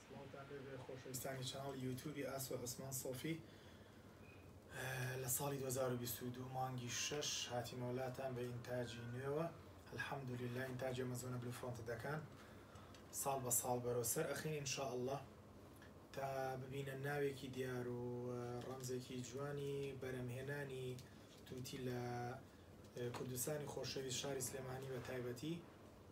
سڵاوتان لێبێ خۆشەویستانی چەناڵی یوتوبی ئاسۆ عوسمان سۆفی لە ساڵی دوو هەزار و بیست و دوو مانگی شەش هاتیمەوە لاتان بە ئینتاجی نوێوە الحمدللە ئینتاج ئەمەزۆنە بلو فرۆنت دەکان ساڵ بە ساڵ بەرەو سەر ئەخین ان شاء اللە تا ببینە ناوێکی دیار و ڕەمزێکی جوانی بەرەمهێنانی توتی لە کوردستانی خۆشەویست شاری سلێمانی بە تایبەتی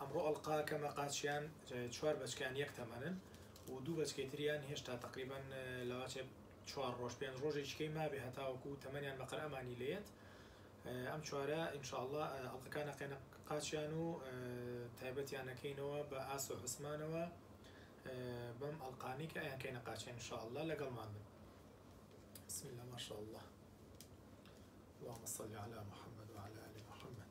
ئەمڕۆ ئەڵقاکەمە قاچیان چوار بەچکەیان یەک تەمەنن و دوو بەچکەی تریان هێشتا تەقریبەن لەواچێ چوار ڕۆژ پێنج ڕۆژێکیکەی مابێ هەتاوەکو تەمەنیان بە قەرەمانی لێت ئەم چوارە ئینشاءاللە ئەڵقەکان ئەقێنە قاچیان و تایبەتیان ئەکەینەوە بە ئاس و عوسمانەوە بەم ئەڵقانی کە ئەیان کەینە قاچیان ئینشاءاللە لەگەڵمان بن بسم الله ما شاء الله اللهم صل على محمد وعلى آل محمد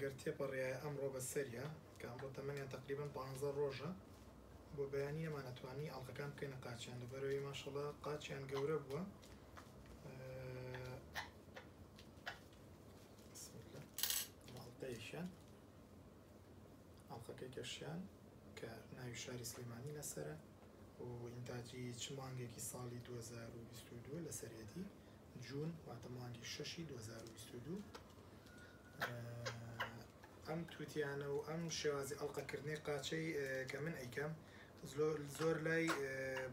گەر تێپەڕیایە ئەمڕۆ بەسەریا کە ئەمڕۆ تەمەنیان تەقریبەن پانزە ڕۆژە بۆ بەیانی نەمانەتوانی ئەڵقەکان بکەینە قاچیان لەبەرەوەی ماشەڵا قاچیان گەورە بووە ئەڵقەیەکیان ئەڵقەکەی کەشیان کە ناوی شاری سلێمانی لەسرە و ئینتاجی چ مانگێکی ساڵی 2022 لەسەرێتی جوون واتە مانگی شەشی 2022 ئەم توتیانە و ئەم شێوازی ئەڵقە کردنەی قاچەی کە من ئەیکەم زۆر لای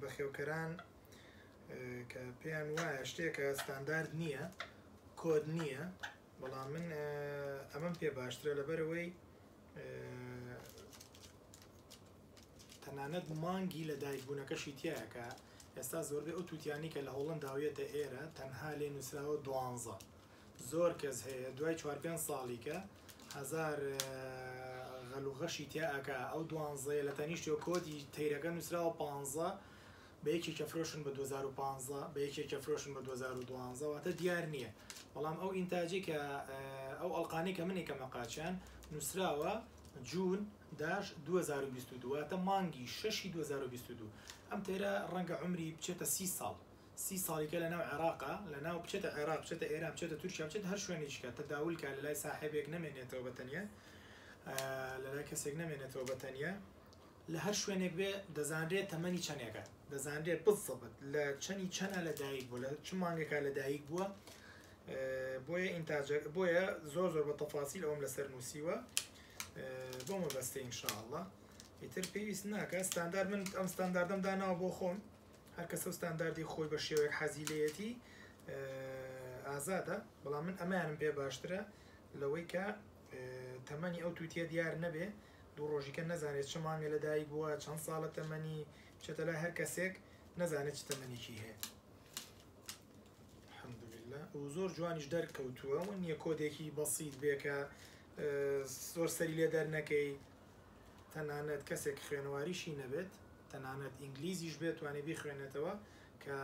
بەخێوکەران کە پێیان وایە شتێکە ستاندارد نییە کۆد نییە بەڵام من ئەمەم پێ باشترە لەبەرەوەی تەنانەت مانگی لە دایکبوونەکەشی تایەکە ئێستا زۆربەی ئەو تووتیانی کە لە هۆڵنداویەتە ئێرە تەنها لێ نووسراوە دوانزە زۆر کەس هەیە دوای چوار پێنج ساڵی کە هەزار غەل و غەشی تیا ئەکا ئەو دوانزەیە لە تەنیشتیەوە کۆدی تەیرەکە نوسراوە پانزە بە یەکێکی ئەفرۆشن بە دوەزار و پانزە بە یەکێکی ئەفرۆشن بە دوەزار و دوانزە واتە دیار نیە بەڵام ئەو ئینتاجەی کە ئەو ئەڵقانەی کە من ئەکەمە قاچیان نوسراوە جون داش دوەزار و بیست و دوو واتە مانگی شەشی دوەزار و بیست و دوو ئەم تەیرە ڕەنگە عەمری بچێتە سی ساڵ سی ساڵی کە لەناو عێراقە لەناو بچێتە عێراق بچێتە ئێران بچێتە تورکیا بچێتە هەر شوێنێکی کە تەداول کا لەلای ساحێبێک نەمێنێتەوە بە تەنیا لەلای کەسێک نەمێنێتەوە بە تەنیا لە هەر شوێنێک بێ دەزانرێت تەمەنی چەنێکە دەزانرێت بزەبت لە چەنی چەنە لە دایک بوو لە چ مانگێکا لە دایک بووە بۆیە ئینتاجەر بۆیە زۆر زۆر بە تەفاسیل ئەوم لەسەر نووسیوە بۆ مەبەستە ئینشاءله ئیتر پێویست ناکە ستاندار من ئەم ستانداردەم داناوە بۆ خۆم هەر کەسەو ستانداردی خۆی بە شێوەیەک حەزی لێیەتی ئازادە بەڵام من ئەمەیانم پێ باشترە لەوەی کە تەمەنی ئەو تووتیە دیار نەبێ دوو ڕۆژیکە نەزانێت چ مانگە لە دایک بووە چەند ساڵە تەمەنی چێتە لای هەر کەسێک نەزانێت چ تەمەنێکی هەیە الحمدلله و زۆر جوانیش دەرکەوتووە و نییە کۆدێکی بەسییت بێکە زۆر سەری لێ دەرنەکەی تەنانەت کەسێک خوێنەواریشی نەبێت تەنانەت ئینگلیزیش بێت توانی بیخوێنێتەوە کە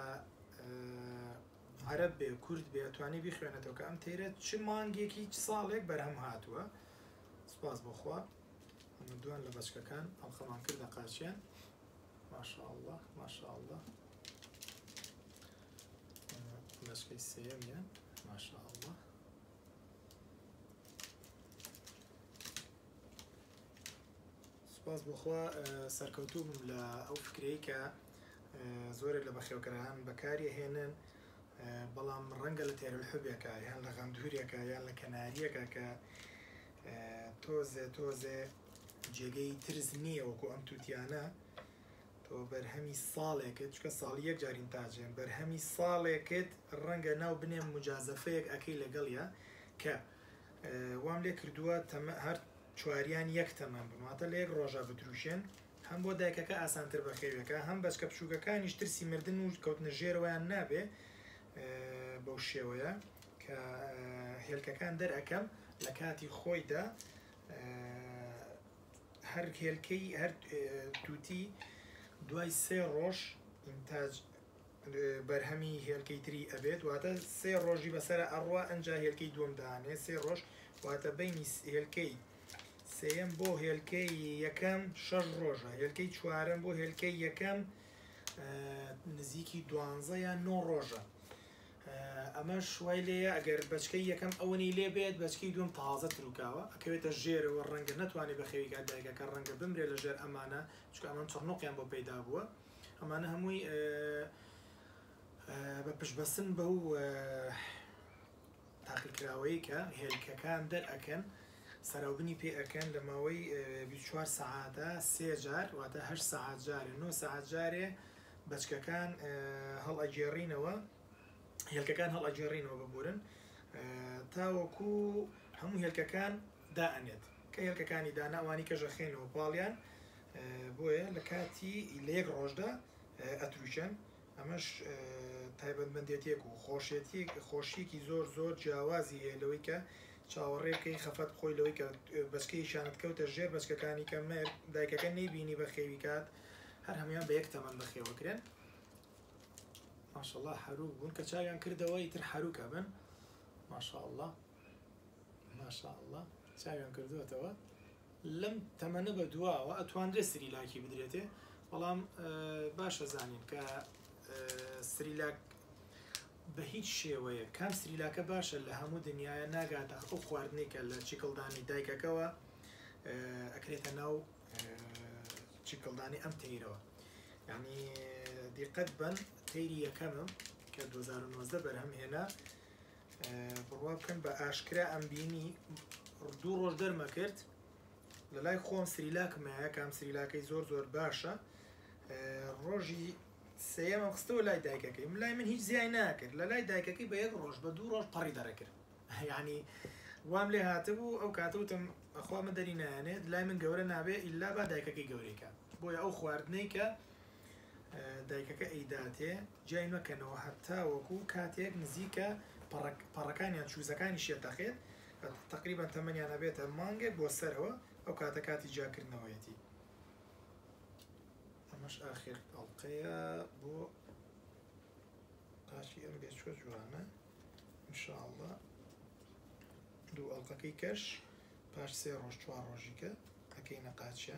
عەرەب بێ کورد بێ توانی بیخوێنێتەوە کە ئەم تەیرە چ مانگێکی چ ساڵێک بەرهەم هاتووە سپاس بۆ خوا ئەمە دوان لە بەچکەکان ئەڵقەمان کردە قاچیان ماشاء الله ماشاء الله بەچکەی سێەمیان ماشاء الله سوپاس بۆ خوا سەرکەوتوو بم لە ئەو فکرەی کە زۆرێک لە بەخێوکەران بەکاری ئەهێنن بەڵام ڕەنگە لە تێرلحبێکە یان لە غەندورێکە یان لە کەناریەکە کە تۆزێ تۆزێ جێگەی ترس نییە وەکو ئەم تووتیانە تۆ بەرهەمی ساڵێکت چکە ساڵی یەک جارین تاجێن بەرهەمی ساڵێکت ڕەنگە ناو بنێم مجازەفەیەک ئەەکەی لەگەڵە کە وام لێ کردووە تەمە هەر چواریان یەک تەمەن بن واتە لە یەک ڕۆژا بدروشێن، هەم بۆ دایکەکە ئاسانتر بەخێویەکە هەم بەچکە بچووکەکانیش ترسی مردن و کەوتنە ژێرەوەیان نابێ بەو شێوەیە کە هێلکەکان دەرئەکەم لە کاتی خۆیدا هەر هێلکەی هەر تووتی دوای سێ ڕۆژ ئینتاج بەرهەمی هێلکەی تری ئەبێت واتە سێ ڕۆژی بەسەرا ئەڕوا ئەنجا هێلکەی دووەم دانێ سێ ڕۆژ واتە بینی هێلکەی سێیەم بۆ هێلکەی یەکەم شەش ڕۆژە هێلکەی چوارەم بۆ هێلکەی یەکەم نزیکی دوانزە یان نۆ ڕۆژە ئەمە شوای لێە ئەگەر بچکەی یەکەم ئەوەنی لێ بێت بچکی دوم تازە تروکاوە ئەکەوێتە ژێرەوە ڕەنگە نتوانێت بە خێویکە دایگەکە ڕەنگە بمرێت لە ژێر ئەمانە چکە ئەمان چڕنوقیان بۆ پەیدا بووە ئەمانە هەمووی بە پشتبەستن بەو تاقیکراوەیەی کە هێلکەکان دەرئەکەن سەراوبنی پێ ئەکەن لە ماوەی چوار سەعاتە سێ جار واتە هەر سەعات جارێ نۆ سەعات جارێ بەچکەکان هەڵ ئەگێڕینەوە هێلکەکان هەڵ ئەگێڕینەوە ببورن تاوەکو هەموو هێلکەکان دائەنێت کە هێلکەکانی داناوانی کەژەخێنەوە پاڵیان بۆیە لە کاتی لە یەک ڕۆژدا ئەترووکێن، ئەمەش تایبەتمەندێتیەک و خۆشێتیەک خۆشیەکی زۆر زۆر جیاوازی هەیە لەوەی کە چاوەڕێ بکەی خەفەت بخۆی لەوەی کە بەچکەی شانت کەوتە ژێر بەچکەکانی کە مێرد دایکەکە نەیبینی بەخێوی کات هەر هەموان بە یەک تەمەن بەخێوە کرێن ماشاءاللە حەروک بوون کە چاویان کردەوە ئیتر حەروک ئەبن ماشاءاللە ماشاء اللە چاویان کردووەتەوە لەم تەمەنە بە دواوە ئەتواندرێ سریلاکی بدرێتێ بەڵام باشە زانین کە سریلاک بە هیچ شێوەیە کام سریلاکە باشە لە هەموو دنیاە ناگاتە ئەو خواردنی کە لە چیکڵدانی دایکەکەەوە ئەکرێتە ناو چیکڵدانی ئەم تەیرەوە ینی دیقەت بن تەیری یەکەمم کە 2009 بەرهەم هێنا بڕوا بکەن بە ئاشکرا ئەم بینی دوو ڕۆژ دەرمە کرد لە لای خۆم سریلاکم هەیە کام سریلاکەی زۆر زۆر باشە ڕۆژی سێمە خستەوە لای دایکەکەی من لای من هیچ زیای ناکرد لە لای دایکەکەی بە یەک ڕۆژ بە دوو ڕۆژ پەڕی دەڕێکرد یعنی وام لێ هاتبوو ئەو کاتەوتم ئەخوا من دەری نایانێت لای من گەورە نابێ ئللا با دایکەکەی گەورەیکە بۆیە ئەو خواردنەی کە دایکەکە ئەیداتێ جیای مەکەنەوە هەتاوەکو کاتێک نزیکە پەڕەک پەڕەکان یان چوزەکانی شێ تەقێت تەقریبەن تەمەنیان ئەبێتە مانگێک بۆ سەرەوە ئەو کاتە کاتی جیاکردنەوەیەتی ئەمەش ئاخر ئەڵقەیە بۆ پارتی ئەم بێچوە جوانە انشاءله دوو ئەڵلقەکەی کەش پاش سێ ڕۆژ چوار ڕۆژیکە ئەەکەی نەقاچە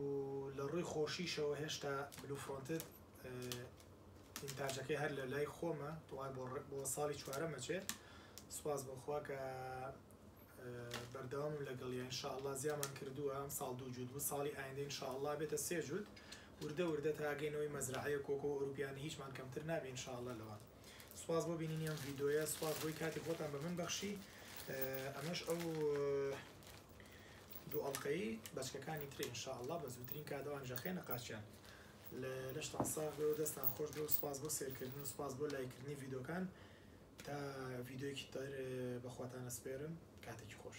و لە ڕووی خۆشیشەوە هێشتا بلو فرۆنتد ئینتاجەکەی هەر لە لای خۆمە دوای بۆ بۆ ساڵی چوارەم ئەچێ سوپاس بۆ خوا کە بەردەوامم لەگەڵیا ان شاء اللە زیامان کردووە ئەم ساڵ دوو جووت بوو ساڵی ئایندە ان شاء اللە بێتە سێ جووت وردە وردە تا گەینەوەی مەزرەعەیە کۆکۆ و ئەرووپیانی هیچمان کەمتر نابێ ان شاء اللە لەوە سوپاس بۆ بینینی ئەم ڤیدۆیە سوپاس بۆی کاتی خۆتان بە من بەخشی ئەمەش ئەو دووئەڵقەیی بەچکەکانی ترێ ان شاءاللە بە زووترین کات ئەوان ژەخێنە قاچیان لەشتان ساغ بێ و دەستان خۆش بێ و سوپاس بۆ سێرکردن و سوپاس بۆ لایک کردنی ڤیدۆکان تا ڤیدۆیەکی تر بەخواتان ئەسپێرم کاتێکی خۆش.